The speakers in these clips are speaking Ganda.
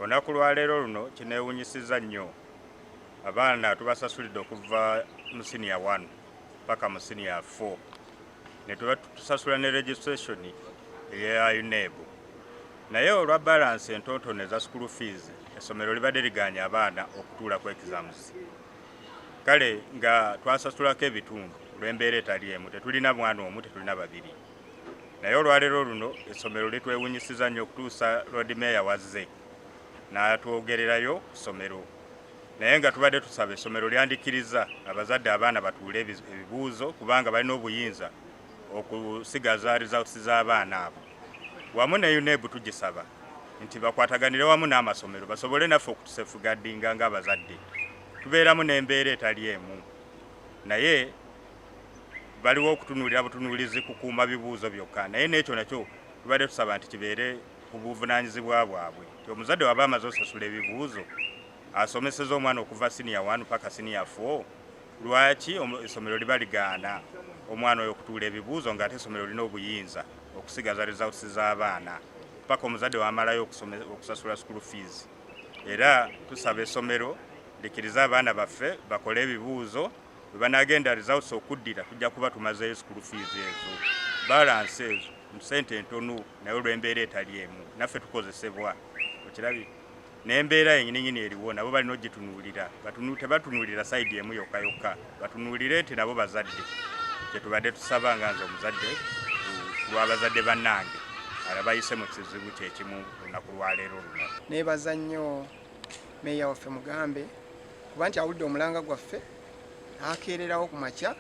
Olunaku lwaleero luno kinewunyisiza nnyo abaana tubasasulidde okuva mu siniya 1 paka mu siniya 4 netubatusasula ne registration eya UNEB naye olwa balance entontono eza school fees essomero libadde liganye abaana okutuula ku exams kale nga twasasulako ebitundu olw'embeera etali emu tetulina mwana omu tetulina babiri naye olwaleero luno essomero litwewunyisiza nnyo okutuusa lord mayor wazze n'atwogererayo ku ssomero naye nga tubadde tusaba essomero lyandikiriza abazadde abaana batuule ebibuuzo kubanga balina obuyinza okusigaza results z'abaana abo wamu ne uneb tugisaba nti bakwataganire wamu n'amasomero basobole naffe okutusefugaddinga ng'abazadde tubeeramu n'embeera etali emu naye baliwo okutunuulira butunuulizi kukuuma bibuuzo byokka naye n'ekyo nakyo tubadde tusaba nti kibeere ku buvunaanyizibwa bwabwe nti omuzadde waba amaze osasula ebibuuzo asomeseza omwana okuva siniya 1 paka siniya 4 lwaki essomero liba ligaana omwana oyo okutuula ebibuuzo ng'ate essomero lina obuyinza okusigaza results z'abaana paka omuzadde wamalayo okusasula school fees era tusaba essomero likirize abaana baffe bakole ebibuuzo webanagenda results okuddira tujja kuba tumazeeyo school fees ezo balance ezo musente entonu naye olwembeera etali emu naffe tukozesebwa okirabi nembeera yenyininyini eriwo nabo balina ogitunuulira tebatunuulira saidi emu yokka yokka batunuulire nti nabo bazadde kyetubadde tusaba nga nze omuzadde lwabazadde bannange alabayise mu kizibu kyekimu lunaku lwaleero luno nebaza nnyo meeya waffe mugambe kuba nti awulidde omulanga gwaffe akeererawo ku makya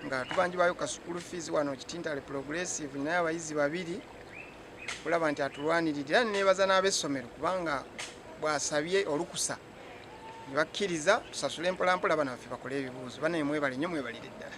nga tubanjibwayo ka sukulu fees wano kitintale progressive naye abayizi babiri kulaba nti atulwanirira era nebaza n'abessomero kubanga bwasabye olukusa ne bakkiriza tusasule mpolampola bana baffe bakole ebibuuzo banaye mwebale nnyo mwebalire ddala